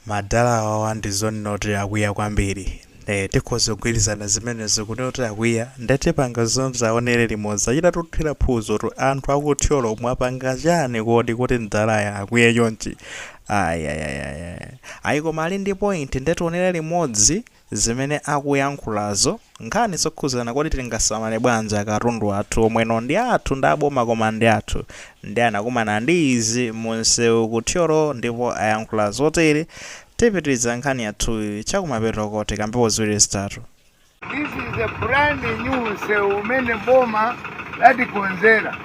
Madala awawa ndi zoonadi kuti akwiya kwambiri. Eeh tikhoza kugwirizana zimenezo kunena kuti akwiya nde tipanga zonse tionere limodzi. Achitatuthira phuzo tu anthu aku Thyolo mwapanga chani kodi kuti mdalayi akwiye chonchi? Ayayayaya. Ayi koma ali ndi point nde tionere limodzi. zimene akuyankhulazo, nkhani zokhudzana kodi tingasamale bwanji akatundu athu omwe ano ndi athu ndi aboma koma ndi athu ndiye anakumana ndi izi mu nsewu ku Thyolo ndipo ayankhula zotere tipitiriza nkhani yathuyi chakumapetoko tikambepo ziwiri zitatu. This is a brand new nsewu umene boma latikonzera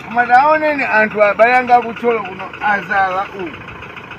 koma taoneni anthu abale anga akuthyolo kuno azala uku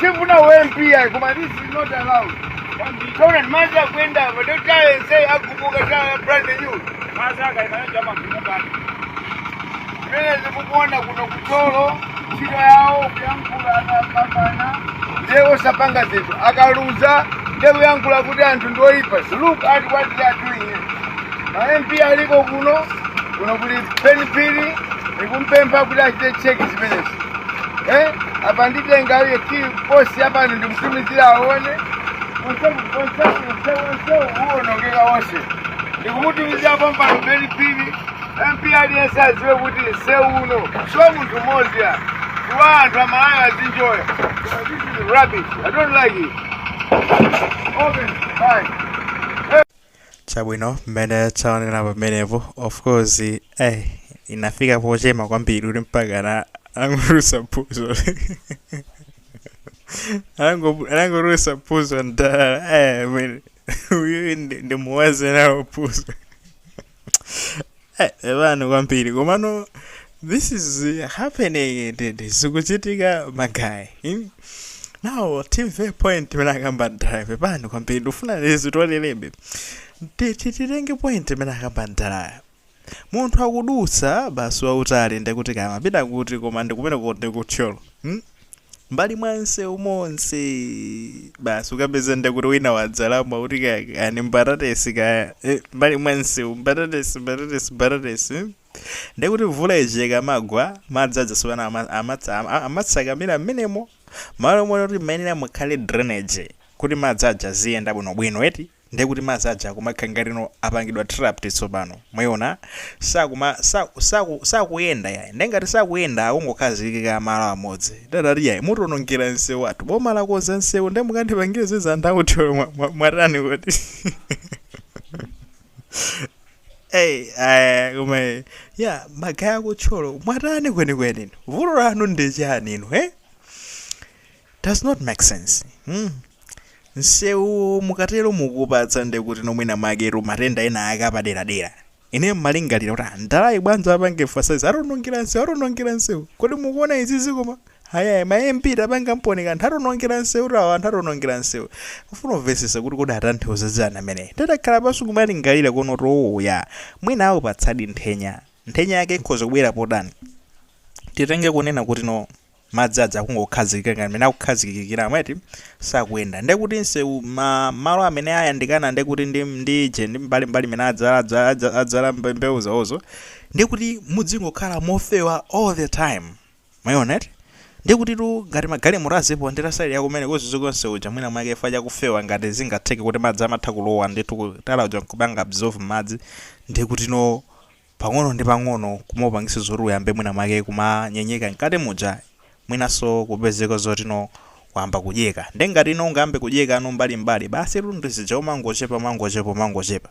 Sifuna UMP ayi koma this is not allowed. Taona madzi akuyenda apa ndiye tala yense agumuka tala brand new. Madzi akaima aja amagumuka. Mmene zikukuona kuno ku Thyolo ntchito yawo kuyankhula akapambana ndiye osapanga zinthu akaluza ndiye kuyankhula kuti anthu ndi oyipa look at what they are doing here. ma mp aliko kuno kuno kuli penipili ikumpempha kuti achite cheki zimenezi eh apa nditenga ine ndiposita apa ndimutumizira aone onse onse onse onse uonongeka onse ndikumutumizira pompano penipili mp aliyense adziwe kuti nsewu uno si wa munthu mmodzi yayi wa anthu amalawi azinjoya But this is rubbish i don't like it open fine chabwino mmene taonera pamenepo of course eh inafika pochema kwambiri kuti mpaka na angolusa phuzo Anango- anangolusa phuzo mdala eh I mean, uyu ndi- ndimuwaze nawo phuzo Eh, pepani kwambiri komano this is uh, happening ndendende zikuchitika magayi hmm? now timve point imene akamba mdalayo pepani kwambiri ndifuna lizitolelebe titenge point imene akamba mdalayo munthu akudutsa basi wautali ndekuti kaya mapita kuti koma ndikumene kuti ndikuthyolo hmm? mbali mwa msewu monse basi ukapeza ndekuti wina wadzalamo kuti kaya kaya ni mbatatesi kaya eh, mbali mwa msewu mbatatesi mbatatesi mbatatesi eh. ndekuti mvula ije ikamagwa madzi aja tsopano ama- amatsa- ama- amatsakamira mmenemo malo moti kuti mmayenera mukhale drainage kuti madzi aja aziyenda bwinobwino eti ndiye kuti madzi aja akumakhala ngatino apangidwa trapped tsopano mwayiona sakuma saku saku sakuyenda yayi ndiye ngati sakuyenda akungokhazikika malo amodzi mdala akuti yayi mutionongera msewu wathu boma lakonza msewu ndiye mukandipangire izi anthu akuthyolo mwa- mwa- mwatani kodi Hey, eh, koma eh, ya magaye akuthyolo mwatani kwenikweni vuto lanu ndi chani inu eh Does not make sense hmm nsewuwo mukatero mukuwupatsa ndekuti no mwina mwaketu matenda ena ake apaderadera ineyo mmalingalira kuti ah mdalayu bwanji apange emphasize atonongera nsewu atonongera nsewu kodi mukuwona izizi koma ayaya ma MP tapanga mponi kanthu atonongera nsewutu awa anthu atonongera nsewu kufuna kumvetsetsa kuti kodi atanthauza chani ameneyu nde takhala pansi kumalingalira kuwona kuti ooh yaa mwina awupatsadi nthenya nthenya yake ikhoza kubwera potani titenge kunena kuti no madzi aja akungokhazikika ngati mene akukhazikikiramu eti sakuyenda nde kuti nsewu ma, malo amene ayandikana nde kuti ndi ndi je ndi mbali mbali mene adzala adza- adza- adzala mbe- mbewu zawozo ndi kuti muzingokhala mofewa all the time mwaona eti ndi kuti tu ngati magalimoto aziponda side yakumene kuziziko nseu uja mwina mwake chifukwa chakufewa ngati zingatheke kuti madzi amatha kulowa ndithu tala uja nkupanga absorb madzi ndi kuti no pang'ono ndi pang'ono kumaupangisa zoti uyambe mwina mwake kumanyenyeka mkati muja mwinaso kupezeka zoti no wayamba kudyeka nde ngati uno ungayambe kudyeka mmbali mbali basitu ndi uja umangochepa umangochepa umangochepa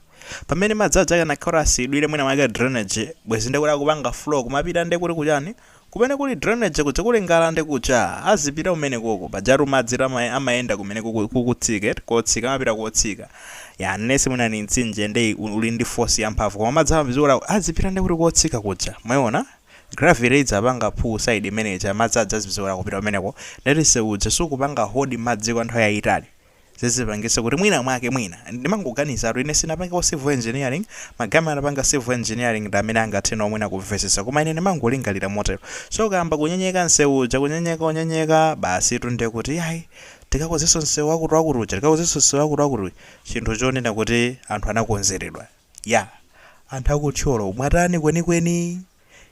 pamene madzi aja akanakhala kuti asiyidwire mwina mwake drainage bwezi ndekuti akupanga flow kumapita ndekuti kuchani Kumene kuli drainage kuja kuli ngalande kuja azipita kumenekoko pajatu madzi ama amayenda kumene kuku kukutsika eti kotsika amapita kotsika ya unless mwina ndi mtsinje nde u- uli ndi force yamphamvu koma madzi amaphwizikula azipita nde kuti kotsika kuja mwaona gravity idzapanga pull side imene ija madzi aja aziphwizikula kupita kumeneko ndekuti nseu uja sukupanga hold madzi kwa nthawi yayitali zizipangitse kuti mwina mwake mwina ndimangoganizatu ine sinapangeko civil engineering ma guys amene anapanga civil engineering ndi amene angathe nawo mwina kumvetsetsa koma ine ndimangolingalira motero so ukayamba kunyenyeka msewu uja kunyenyeka unyenyeka basitu ndiye kuti ayi tikakozenso msewu wakuti wakuti uja tikakozenso msewu wakuti wakuti uja chinthu chonena kuti anthu anakonzeredwa ya anthu aku Thyolo mwatani kwenikweni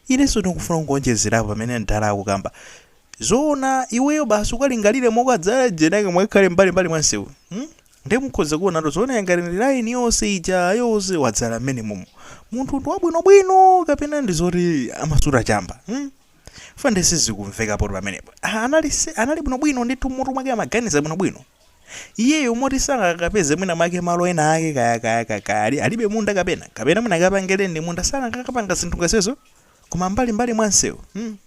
Ineso ndikufuna kungowonjezerapo pamene mdala akukamba. Zoona iweyo basi ukalingalire mokadzala jenake mukakhale mbali mbali mwa msewu mm nde mukhoza kuonatu zoona ngati ndi line yonse ija yonse wadzala mmenemomo munthu ndi wabwino bwino kapena ndi zoti amasuta chamba mm chifukwa nde sizikumvekapotu pamenepo anali anali bwino bwino ndithu mmutu mwake amaganiza bwino bwino iyeyo moti sangakapeze mwina mwake malo ena ake kaya kaya kaya kaya ali- alibe munda kapena kapena mwina akapange lendi munda sangakapange zinthu ngati izo koma mbali mbali mwa msewu hmm.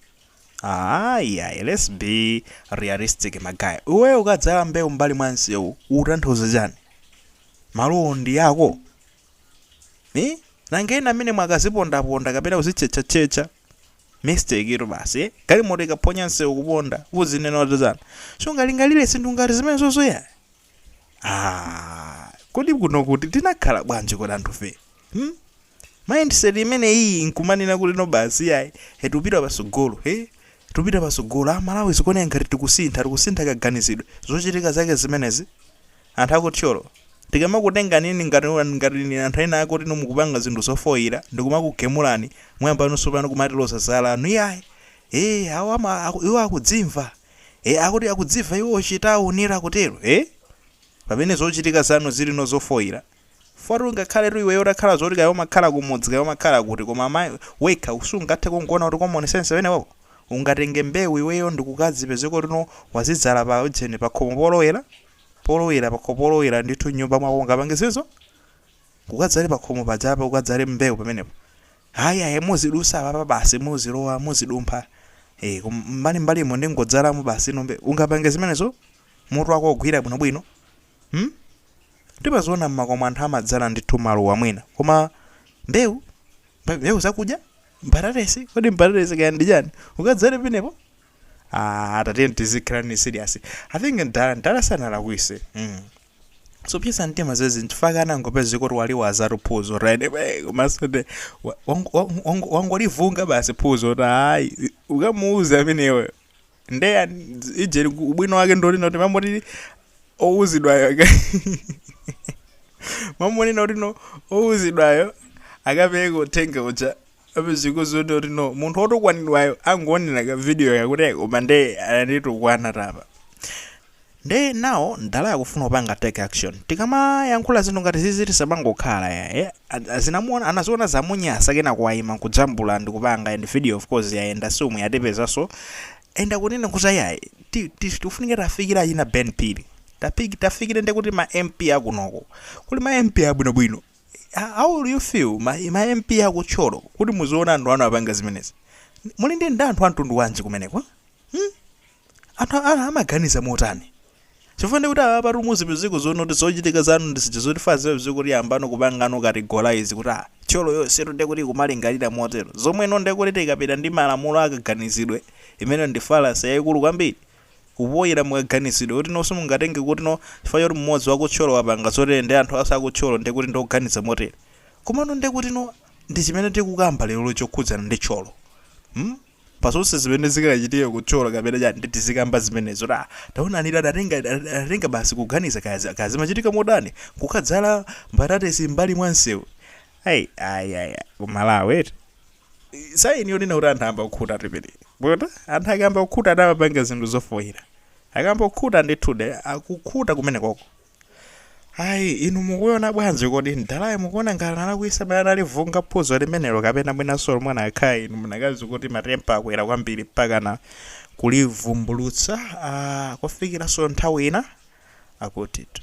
ayi ayi let's be realistic ma guys iweyo ukadzala mbewu mbali mwa msewu utanthauza chani malowo ndi ako eh? nanga ena amene mwakazipondaponda kapena kuzitchetchatchetcha Mistake tu basi galimoto ikaphonya msewu kuponda uzinena kuti dzana sungalingalire zinthu ngati zimenezozo ya ah, kodi kuno kuti tinakhala bwanji kodi anthufe hmm? mindset imene iyi nkumanena kuti no basi yayi he tupita pasogolo he tupita pasogolo a Malawi zikuoneka ngati tikusintha tikusintha kaganizidwe zochitika zake zimenezi Anthu aku Thyolo tikamakutengani inu ngati ngati ndi anthu ena ake oti inu mukupanga zinthu zofoira ndikumakugemulani mwayambano tsopano kumatiloza zala anu iyayi ee awo ama aku, iwo akudzimva ee akuti akudzimva iwowo chitawuni ira kutero ee pamene zochitika zanu zili no zofoira Chifukwa ngakhaletu iweyo utakhala zoti kaya umakhala kumudzi kaya umakhala kuti koma ma, wekha sungathe kungoona kuti common sense umenewowo? Ungatenge mbewu iweyo ndikukazipezeka kuti no wazidzala pa ujeni pakhomo polowera, polowera pakhomo polowera ndithu m'nyumba mwako ungapange zimenezo? Ukadzale pakhomo pajapa ukadzale mbewu pamenepo? Ayi ayi muzidutsa apapa basi muzilowa muzidumpha ee koma m'mbalim'mbalimo ndingodzalamo basi ino mbewu ungapange zimenezo? Mutu wako ugwira bwinobwino? Hmm? Ndimaziona mmakomo anthu amadzala ndithu maluwa mwina. Koma mbewu? Mbe- Mbewu zakudya? Mbatatesi? Kodi mbatatesi kaya ndi chani? Ukadzale penepo? Ah, tatiye tizikhala nayo serious. I think mdala mdala sanalakwise. Mm. Zopsetsa mtima zedi nchifukwa anangopezeka kuti waliwazatu phuzo right away komanso ndi wa- wango- wango- wangolivunga basi phuzo kuti ayi ukamuuza ameneyo nde ya- dz- ijeni ku- ubwino wake ndonena kuti mamoti owuzidwayo aka- mamonena kuti no owuzidwayo akapereka uthenga uja apezekeno kuti kuti no munthu wotukwanidwayo angoonera ka video kakuti koma nde ananditukwanatu apa Nde now mdalayo akufuna kupanga take action. Tikamayankhula zinthu ngati zizi tisamangokhala ya eh. A- Zinamuona anaziona zamunyasa kenako waima nkuzijambula ndikupanga send video of course yayenda si umu yatipezaso and akunena kuti ayayi ti- ti- tikufunika tafikire achina Ben Phiri. Tafiki- tafikire nde kuti ma MP akunoko. Kuli ma MP abwinobwino. How how do you feel ma, ma MP aku Thyolo kuti muziona anthu anu apanga zimenezi? Muli ndi ndi anthu a mtundu wanji kumeneko? Hmm? Anthu awa amaganiza motani? Chifukwa ndiye kuti apapatu muzipezeka zoona kuti zochitika zanu ndi zija zoti fa zimapezeka kuti yambano kupangano categorize kuti ah Thyolo yonsetu ndiye kuti ikumalingalira motero, zomweno ndiye kuti tikapita ndi malamulo a kaganizidwe, imeneyo ndi fallacy yaikulu kwambiri, kufoira mu kaganizidwe, kuti no simungatenge kuti no chifukwa choti mmodzi wa ku Thyolo wapanga zotere ndiye anthu onse a ku Thyolo ndiye kuti ndi oganiza motere. Komano ndiye kuti no ndi chimene tikukamba lerolo chokhudzana ndi Thyolo. Hmm? pa zonse zimene zikachitika kutchyola kapena chani ndi tizikamba zimenezo ta taonani ta tatenga ta- ta- tatenga basi kuganiza kazi kazi machitika modani kukadzala mbatatesi mbali mwa msewu ayi ayi ayi kumalawi eti saini yonena kuti anthu ayamba kukhuta tipiti bwota anthu akayamba kukhuta amapanga zinthu zofoyira akayamba kukhuta ndithudi akukhuta kumene koko ayi inu mukuona bwanji kodi mdalayu mukuona ngati analakwisa pamene analivunga phuzo limenelo kapena mwinanso momwe anakhalira inu munakati kuti matempa akwera kwambiri mpakana kulivumbulutsa ah, kufikiranso nthawi ina akutitu